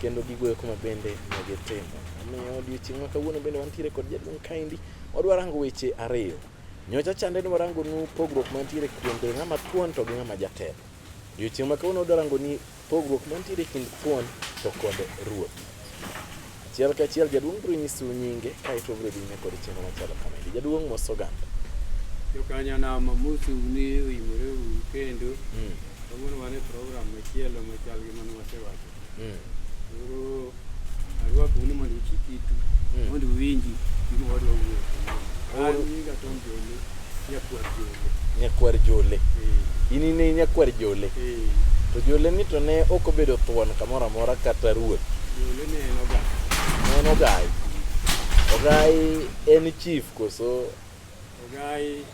kendo gigo eko ma bende ne gitimo. Omiyo odiechieng' ma kawuono bende wantiere kod jaduong' kaendi, wadwa rango weche ariyo. Nyocha chande ni warangonu pogruok mantiere kuom bedo ng'ama thuon to gi ng'ama jatelo. Odiechieng' ma kawuono wadwa rangoni pogruok mantiere kind thuon to kod ruoth. Achiel ka achiel jaduong' biro nyisu nyinge kaeto obiro dhi nyime kod chenro machalo kamaendi. Jaduong' mos oganda. Jokanyanam amosu ni uimore uru kendo. Kawuono wan e program machielo machal gi mane wasewacho. mm. oro arwa kuni mondo uchi kitu mm. mondo uwinji gima wadwa wuoyo an nyinga Tom Jole nyakwar Jole nyakwar Jole eh. in ine nyakwar Jole eh. to Jole ni to ne ok obedo thuon kamoro amora kata ruoth Jole ne en ogai ne en ogai ogai en chief koso ogai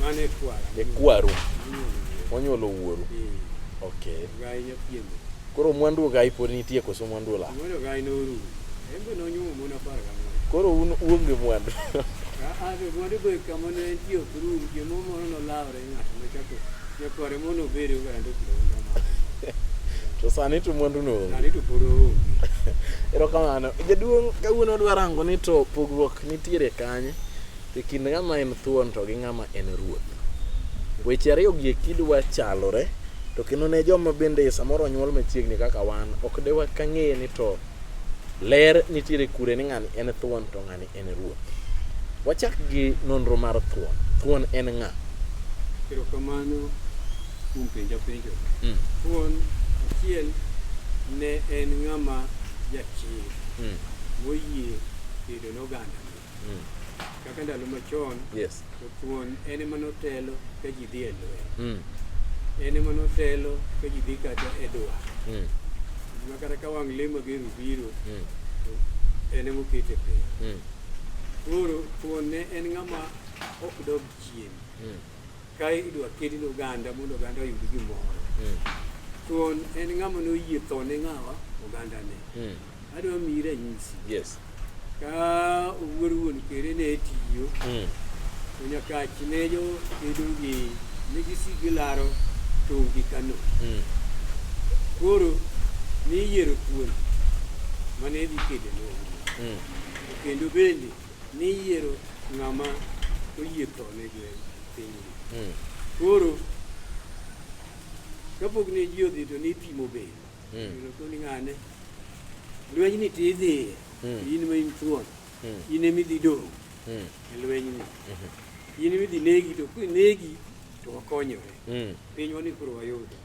Mane kwara. E kwaru. Onyuolo wuoru. Okay. Gai nyapiende. Koro mwandu gai pod nitie koso mwandu ola? Mwandu gai norumo. Embe nonyuomo mon apar gang'wen. Koro un uonge mwandu. Mwandu be kama ne entie ok rum, jomoro moro nolawre ng'ato nochako nyakware mono obere oganda okiro to sani to mwandu no sani to pod oonge erokamano jaduong' kawuono dwa rango ni to pogruok nitiere kanye E kind ng'ama en thuon to gi ng'ama en ruoth. Weche ariyogi e kidwa chalore, to kendo ne joma bende samoro onyuol machiegni kaka wan, ok de wakang'e ni to ler nitiere kure ni ng'ani en thuon to ng'ani en ruoth. Wachak gi nonro mar thuon. Thuon en ng'a? Erokamano kuom penja penjo. Mm. Thuon achiel ne en ng'ama jachir mm. moyie kedo noganda. Mm. Kaka ndalo machon, yes. to thuon en ema notelo ka ji dhi e lweny. Mm. En ema notelo ka ji dhi kata e dwa. Mm. Ma kata ka wang' lemo gi rubiro, mm. to en ema okete piny. Mm. Koro thuon ne en ng'ama ok dog chien. Mm. Ka idwa kedi ne oganda mondo oganda oyud gimoro. Mm. Thuon en ng'ama noyie tho ne ng'awa ogandane. Mm. Adwa miyi ranyisi. Yes. Ka owuor wuon kere ne tiyo. Mm. To nyakachi ne jo kedo gi ne gisigi laro tongi Kano. Mm. Koro niyiero thuon mane dhi kedo ne. Mm. Kendo bende ni yiero ng'ama oyie tho ne gwen pinyni. Hmm. Koro kapok ne ji odhi to nipimo be hmm. koni ng'ane lwenyni ti idhiye hmm. in ma in thuon in ema idhi dong' e lwenyni in ema idhi negi to kinegi to wakonyore pinywa ni koro wayudo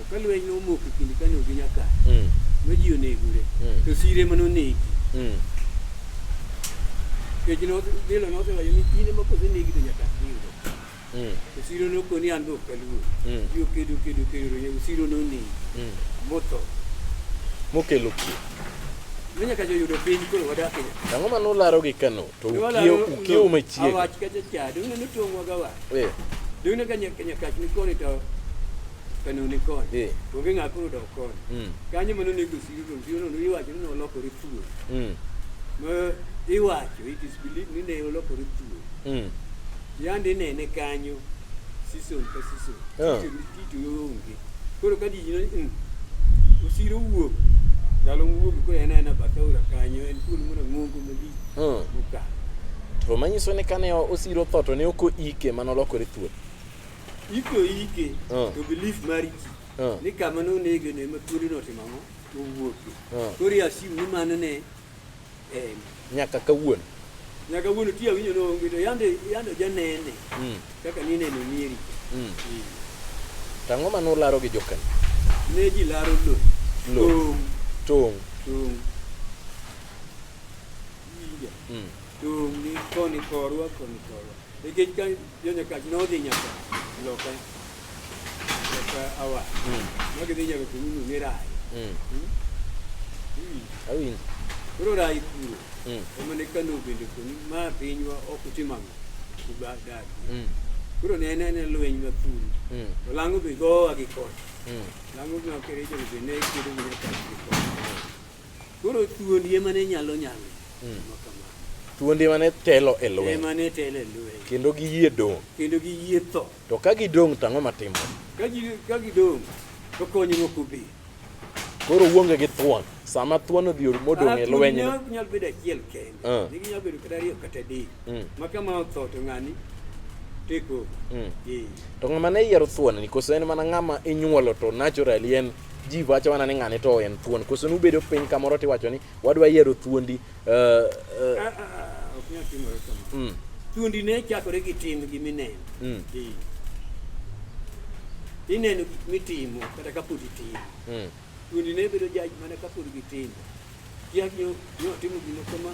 Ka lweny nomoko e kind Kano gi Nyakach, Mm. ma ji onegore, Mm. to sire ema nonegi. Mm. Nikech no- Dilo nosewacho ni kinde ma kosenegi to Nyakach dhi yudo. Mm. To siro nokoni an be ok aluor. Mm. Ji okedo kedo kedo to nyago siro nonegi Mm. motho. Mokelo kwe. Ma Nyakach oyudo piny koro wadak e Nyakach. Ang'o ma nularo gi Kano? to ukiye ukiye umechiega awach kacha cha dong ne tongwa gawa eh dong ne kanya kanya kach ni koni to kanu ni koni eh onge ng'a koro dok koni mm kanyo mano ne gosiyo to siyo no iwacho ni nolokore thuol mm ma iwacho it is believed ni ne olokore thuol mm yande inene kanyo season ka season Ah. Tich- tich onge Koro ka ji ne mm, osiro wuok ndalo wuok koro en aena bathe aora kanyo en thuol moro ng'ongo malich Hmm. mokalo To manyiso ni kane osiro tho to ne ok oike mano lokore thuol. iko ike Mm. to belief mar ji Mm. ni kama nonege ne ma thuolino otimo ang'o owuoke Mm. koro asim ni mano ne Em. nyaka kawuono. Nyaka kawuono ti awinjo ni onge to yande yande janene Mm. kaka nineno nyeri. Mm. To ang'o ma nularo gi jokanyo? Ne ji laro lo. Lo. Tong', Tong'. tong'. Winja. Mm. Tong' ni koni korwa koni korwa. Nikech ka Yo nyaka nodhi nyaka loka loka awa. Magi dhi nyaka kununu ne rai. Awinjo. Koro rai kuro. Mm. Ema ne kano bende koni ma pinywa ok utimamo. Kuba dadi. Mm. Kuro ne ne ne lweny ma thuru. Mm. To lango be gowa gi koch. Mm. Lango ma kerejo be ne kedo gi nyaka gi koch. Koro thuondi ema ne nyalo nyalo hmm. timo kamano. Thuondi ema ne telo e lweny. Ema ne telo e lweny. Kendo giyie dong'. Kendo giyie tho. To ka gidong' to ang'o matimo? Ka gi ka gidong' to konyo moko bi. Koro uonge gi thuon. Sama thuon odhi modong' e ah, lweny. Ah, nyalo bedo achiel kende. Ah. Ne ginyalo bedo kata ariyo kata adek. Hmm. Ma kama otho to ng'ani teko. Hmm. To ng'ama ne yiero thuon ni koso en mana ng'ama inyuolo to naturally en ji wacho mana ni ng'ane to en thuon koso nubedo piny kamoro tiwacho ni wadwa yiero thuondi uh, uh, ah, ah, ah, ok nyal timore kamano mm. thuondi ne chakore gi tim gi mineno mm. ineno gik mitimo kata kapod itimo mm. thuondi ne bedo jaj mana kapod gitimo kiak nyo otimo gino kama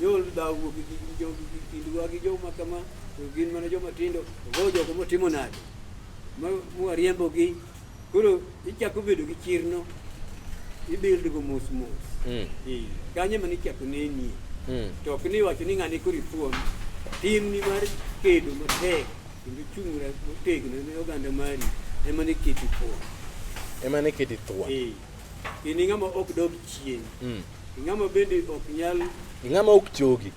nyol dhaw wuok gi jogi gi kindwa gi joma kama to gin mana joma tindo go jogo motimo nade mwariembogi Koro ichako bedo gi chirno, ibuild go mos mos. Mm. Eh, Kanyo ema nichako nenie. Mm. To ok ni iwacho ni ng'ani koro ifuon. Timni mar kedo matek kendo chung'ra motegno ne oganda mari ema ne keti fuon. Ema ne keti thuon. Eh, In ing'ama ok dog chien. Mm. Ing'ama bende ok nyal Ing'ama ok chogi.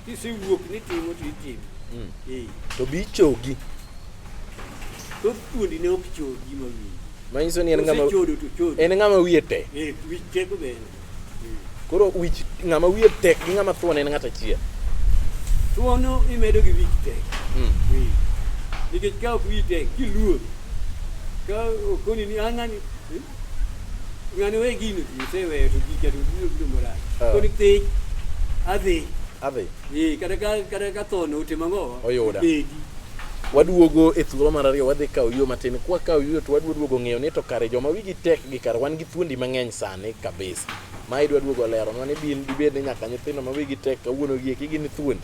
Kisewuok ni timo to itimo. Mm. Eh. To bi chogi. To thuondi ne ok chogi ma wiyi. Manyiso ni en ng'ama chodo to chodo. En ng'ama wiye tek. Eh, wich tek be. Eh. Koro wich ng'ama wiye tek gi ng'ama thuon en ng'at achiel. Thuono imedo gi wich tek. Mm. Eh. Nikech ka ok wiyi tek kiluor. Ka okoni ni ang'ani eh, ng'ani we gino ji oseweyo to ji keto biro biro marach Ah. koni thich adhi Adhi. ee kata ka kata ka tho note mang'o Oyuda. bedi Waduogo e thuolo mar ariyo wadhi kawo yo matin. Kwa kawo yo to wadwa duogo ng'eyo ni to kare joma wigi tek gi kar wan gi thuondi mang'eny sani kabisa. Ma idwa duogo lero nwa ni bin dibed ni nyaka nyithindo ma wigi tek kawuono gi eki gin thuondi.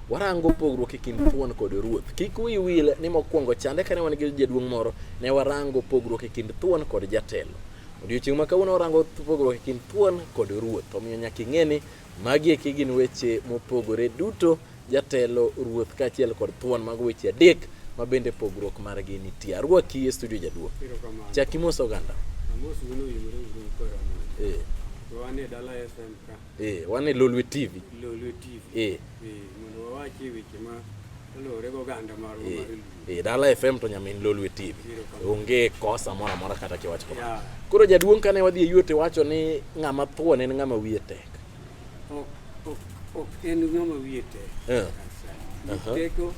Warango pogruok e kind thuon kod ruoth. Kik wiyi wil ni mokwongo chande kane wan gi jaduong' moro, ne warango pogruok e kind thuon kod jatelo. Odiochieng' ma kawuono warango pogruok e kind thuon kod ruoth. Omiyo nyaka ing'e ni magi eki gin weche mopogore duto, jatelo, ruoth kaachiel kod thuon, mago weche adek ma bende pogruok margi nitie. Arwaki e studio jaduong'. Chak imoso oganda. Amos wuono yimre uru koro. Eh. Wane dala FM ka. Eh, wan e Lolwe TV. Lolwe TV. Eh. Eh, mondo wawachi weche ma olore go ganda mar eh, mar Luo. Eh, Dala FM to nyamin Lolwe TV. Onge kosa mora mora kata kiwacho kama. Yeah. Koro jaduong' kane wadhi e yuote wacho ni ng'ama thuon en ng'ama wiye tek. Ok, ok, ok en ng'ama wiye tek. Eh. Aha. Teko.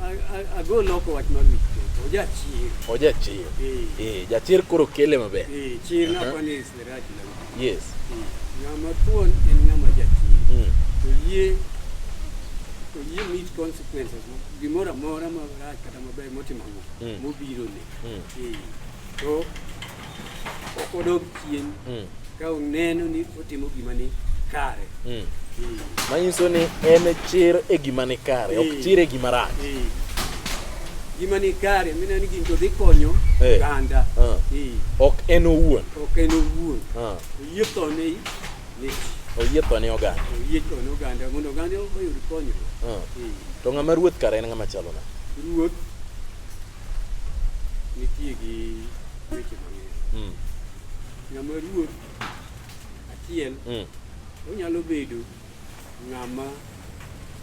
A- a- Ago loko wach mar wich teko. Ojachir. Ojachir. Eh, Eh, jachir koro kele maber. eh, chir Aha. napa ni sirach na. Yes. Eh, Ng'ama thuon en ng'ama jachir. Mm. To yie to yie meet consequences gimoro amora marach kata maber motimo Mm. mobiro ne. Mm. Eh, To odog chien mm. ka oneno ni otimo gima ni kare mm. mm. manyiso ni en chir e gima ni kare ok mm. chir e gima rach mm. gima ni kare mineno ni gini to dhi konyo eh. oganda ah. ok en owuon ok en owuon ah. oyie tho ne oyie tho ne oganda oyie tho ne oganda mondo oganda oyud konyruok ah. to ng'ama ruoth kare en ng'ama chalo na ruoth nitie gi weche mang'eny. Mm. Ng'ama ruoth achiel mm. onyalo bedo ng'ama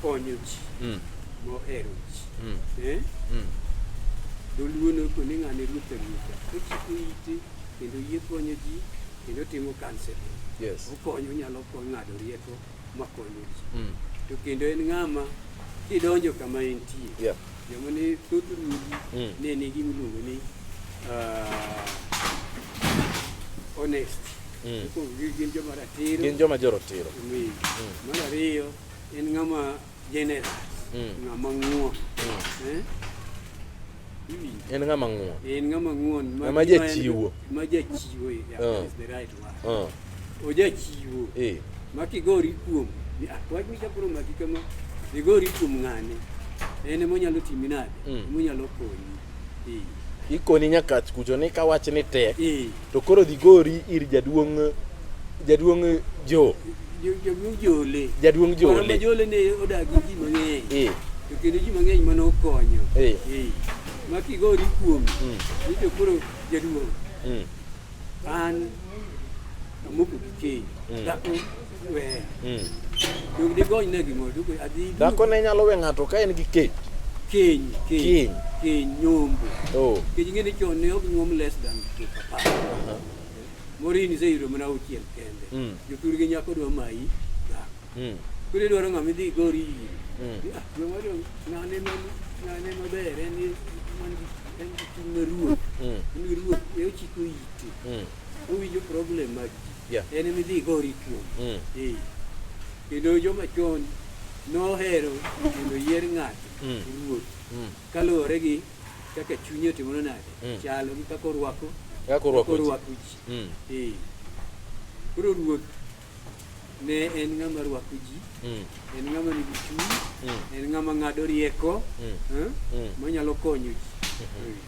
konyo ji mm. mohero ji. Mm. Eh? Mm. Dholuo noko ni ng'ane ruoth aruotha ochiko ite kendo yie konyo ji kendo timo kanseling. Yes. Okonyo onyalo konyo ng'ado rieko makonyo ji mm. to kendo en ng'ama kidonjo kama entie yeah. joma ne thoth ruodhi mm. ne nigi miluongo ni uh, honest mm. gin joma ratiro gin joma jorotiro mm. mar ariyo en ng'ama General. Mm. Ng'ama ng'uon. Mm. Eh? En ng'ama ng'uon. En ng'ama ng'uon. Ng'ama jachiwo. Ma jachiwo. Yeah, uh. is the right word. Uh. Ojachiwo. Eh. Ma kigori kuom. Ah, wach mi japuro maki kama. Igori kuom ng'ane. En ema onyalo timi nade? Mm. Ema onyalo konyi. ikoni nyakach kucho ni ka wach ni tek to koro dhi gori ir jaduong' jaduong' jo jaduong' jole jaduong' jole jole ne odak gi ji mang'eny to kendo ji mang'eny mane okonyo ma kigori kuom mm. ni to koro jaduong' mm. an amoko gi keny mm. Dhako ne nyalo we ng'ato ka en gi keny. Keny, keny, keny nyombo. Oh. Keny ngene chon ne ok nyuom less than to papa. Uh-huh. Morini se iro mana uchiel kende. Mm. Jotur gi nyako dwa mayi dhako. Mm. Kule dwaro ng'ama idhi gori iri. Mm. Ah, dwa mari ng'ane ma ng'ane maber en man gi en gi chuny maruoth. Mm. En gi ruoth, e ochiko ite. Mm. Owinjo problem mag ji. Yeah. en ema idhi igori kuom Mm. Eh. kendo joma chon nohero mondo yier ng'ato Mm. ruoth Mm. kaluwore gi kaka chunye otimono nade Mm. chalo gi kaka orwako Kaka orwako ji. orwako ji Mm. Eh. koro ruoth ne en ng'ama rwako ji Mm. en ng'ama nigi chuny Mm. en ng'ama ng'ado rieko Mm. eh, Mm. manyalo konyo ji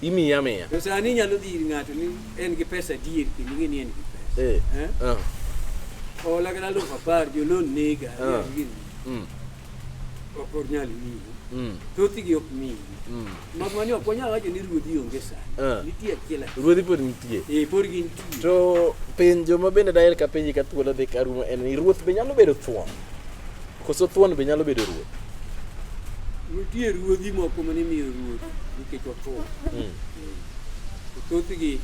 Imiye amiya. To sani inyalo dhi ir ng'ato ni en gi pesa adier kendo ing'e ni en gi pesa. Eh. Eh? Ah. Hola kata aluf apar jolon nega. Ah. gini. Mm. Ok onyal miyi. Mm. Thothgi ok miyi. Mm. Mak mani ok wanyal wacho ni ruodhi onge Ah. sani. Nitie achiel achiel. Ruodhi pod nitie. Eh, pod gintie. To penjo ma bende daher ka penji ka thuolo dhi ka rumo en ni ruoth be nyalo bedo thuon? Koso thuon be nyalo bedo ruoth? Nitie ruodhi moko mane imiyo ruoth nikech othuon. Mm. To thothgi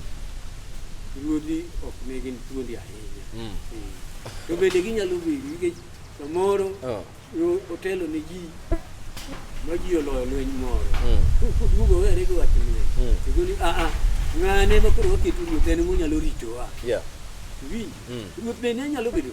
ruodhi ok ne gin thuondi ahinya. Mm. Mm. To bende ginyalo bedo nikech samoro oh. otelo ne ji ma ji oloyo lweny moro. Mm. Koduogo were gi wach lweny. Mm. To goni a ah, a ah, ng'ane ma koro waketo ruoth en monyalo ritowa. Yeah. Winj. Mm. Ruoth bende nyalo bedo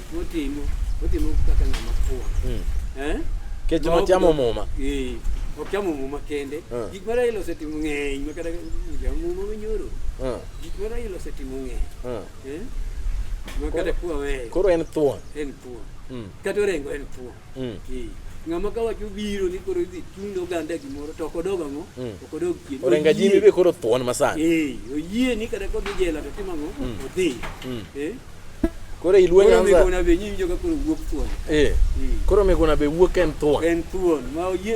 Otimo, otimo kaka ng'ama fuwo. Mm. Eh? Kech ma chamo muma. Eh. Ok chamo muma kende. Eh. Gik ma Raila osetimo ng'eny ma kata jam muma manyoro. Eh. Gik ma Raila osetimo ng'eny. Eh. eh? Ma kata kwa weyo. Koro en thuon. En thuon. Mm. Kata orengo en thuon. Mm. Eh, ng'ama ka wacho biro ni koro idhi chung' oganda gimoro to okodog ang'o mm. okodog chien orenga jimi be koro thuon masani eh oyie ni kata kodhi jela to timo ang'o mm. odhi mm. eh koro ilwe nyanza koro migona be nyinjo ka koro wuok thuon eh, eh. koro migona be wuok en thuon en thuon ma oyie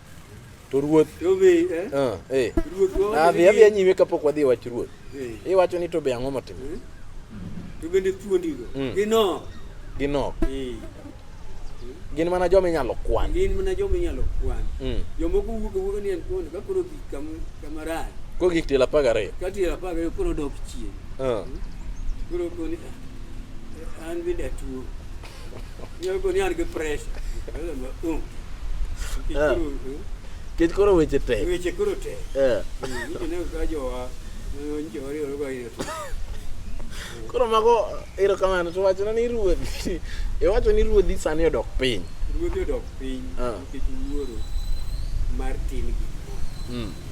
to ruoth eh? ah, eh. adhi adhi anyime kapok wadhi e wach ruoth eh. iwacho ni to be ang'o motimo to bende thuondigo mm. ginok ginok gin mana joma inyalo kwan gin mana joma inyalo kwan mm. jomoko wuok awuoka ni en thuondi ka koro gik kama rach ko gik tiel apar gariyo ka tiel apar gariyo koro dok chien ah. hmm? koro koni ah, an bende atuo Kech koro weche tek. Weche koro tek. Eh. Koro mago erokamano to wachona ni ruodhi iwacho ni ruodhi sani odok piny. Ruodhi odok piny ah. nikech wuoro mar tin gik moko. Hmm.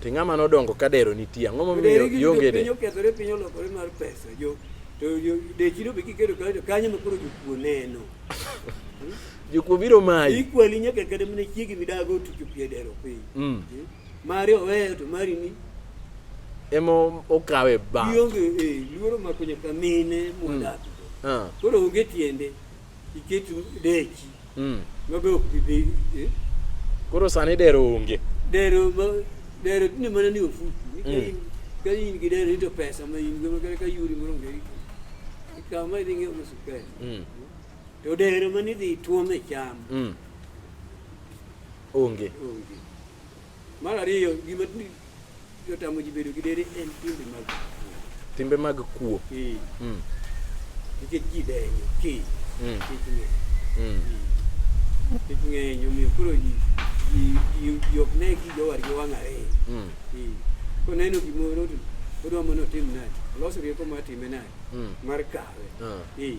To ng'ama nodongo ka dero nitie ang'o momiyo ionge de? Piny okethore piny olokore mar pesa jo to dechi no be kiketo kanyo to kanyo ma koro jokuo neno. Jokuo biro mayi. Ikwali nyaka kata mana chiegi midago otucho pie dero piny. Mm. Eh? Mari oweyo to mari ni emo okawe ba. Ionge eh luoro mako nyaka mine mwadak. Mm. Ah. Koro onge tiende. iket deki mm. mabe ok bi bedo eh? koro sani dero onge dero ma dero ni mana ni ofuku mm. ka in gi dero into pesa ma in go ka yuri moro ngi ka ma ni ngi musu pe mm. to dero ma ni di tuome cham mm. onge onge Mar ariyo, gima jotamo ji bedo gi dere en timbe mag timbe mag kuo. Eh. Mm. Nikech ji denyo ki. Mm. Kik ng'e. Mm. Eh. Kik ng'enyo miyo koro ji ji ok ne gi jowar gi wang' ariyo. Mm. Eh. Koneno gimoro to odwa mondo otim nadi. Olos rieko mar time nadi. Mm. Mar kawe. Uh. Eh.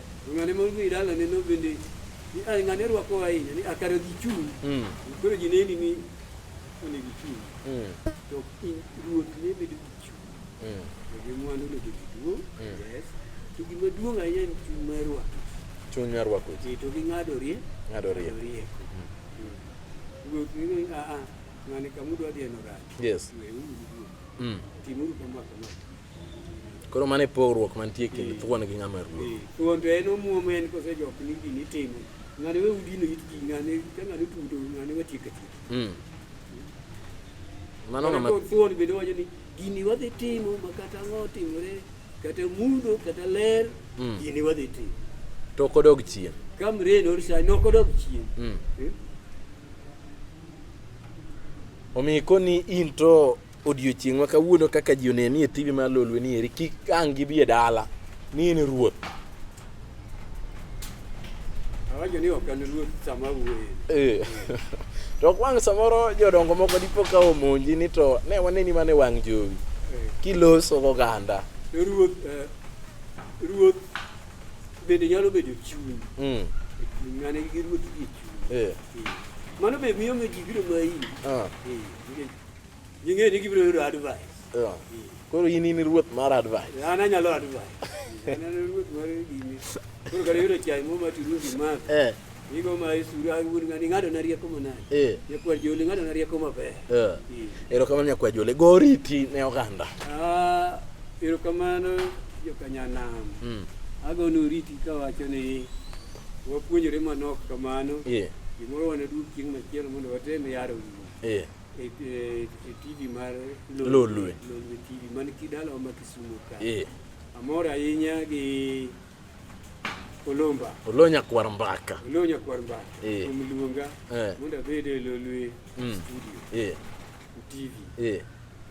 Ng'ane moro dhi dalane no bende ni a ng'ane rwako ahinya ni akare dhi chung'. Mm. Koro ji neni ni onego ichung'. Mm. To in ruoth ne bedo gi chung'. Mm. To gi mwandu ne bedo duong'. Mm. Yes. To gima duong' ahinya en chung' mar rwako. Chung' mar rwako. Ji to gi ng'ado rie. Ng'ado rie. Rieko. Mm. Mm. Ruoth ne ni a a ng'ane kamudwa dhi en orach. Yes. Weuru. Mm. Timuru kama kama. Koro mano e pogruok mantie kind eh. thuon gi ng'ama ruoth. Eh. Thuon to en omuom en kose jok ni gini itimo. Ng'ane we udino it ji ng'ane ka ng'ane tudo ng'ane we tiek tiek. Mm. Mano ng'ama thuon bende wacho ni gini wadhi timo ma kata ang'o timore kata mundo kata ler mm. gini wadhi timo. To kodog chien. Kam rain or shine no kodog chien. Mm. Eh? Omi koni in to Odiochieng' ma kawuono kaka ji oneni e TV mar Lolwe ni eri kik ang' gibi e dala ni in ruoth. Awacho ni ok an ruoth sama awuoye. Eh. To ok wang' samoro jodongo moko dipo ka omonji ni to ne waneni mana e wang' jowi Eh, kiloso goganda. Ruoth eh, ruoth bende nyalo bedo chuny. Mm. E chuny mane gi ruoth gi chuny. Eh. Eh. Mano be miyo miyo ji biro ma iri. Ah. Eh, nikech Ging'e ni gibiro yudo advice. Yeah. Koro in in ruoth mar advice. An anyalo advice. An an ruoth mar gini. Koro kare yudo chai mo mati rundi mar. Eh. Igo ma isura wuon ngani ngado na rieko manani. Eh. Nyakwar joli ngado na rieko maber. Eh. Ero kamano nyakwar joli go riti ne oganda. Ah, ero kamano jo kanyanam. Mm. Ago no riti kawacho ni wapuonjore manok kamano. Eh. Gimoro wane duk chieng' machielo mondo watem yaro. Eh. e, e, e TV mar Lolwe TV man kidalawa ma Kisumu ka. Eh. Amor ahinya gi Olomba. Olonya kwar mbaka. Olonya kwar mbaka. Eh. Omluonga. Eh. Mondo abed e Lolwe mm. studio. Eh. TV. Eh.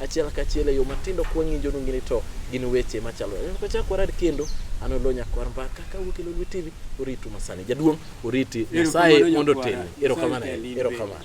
achiel kachiel e yo matindo kwa ng'injo nungi ni to gin weche machalo kachak warad kendo an olo nyakwar mbaka ka wuok e lolwe tv oritu masani jaduong' oriti nyasaye mondo otelni erokamano erokamano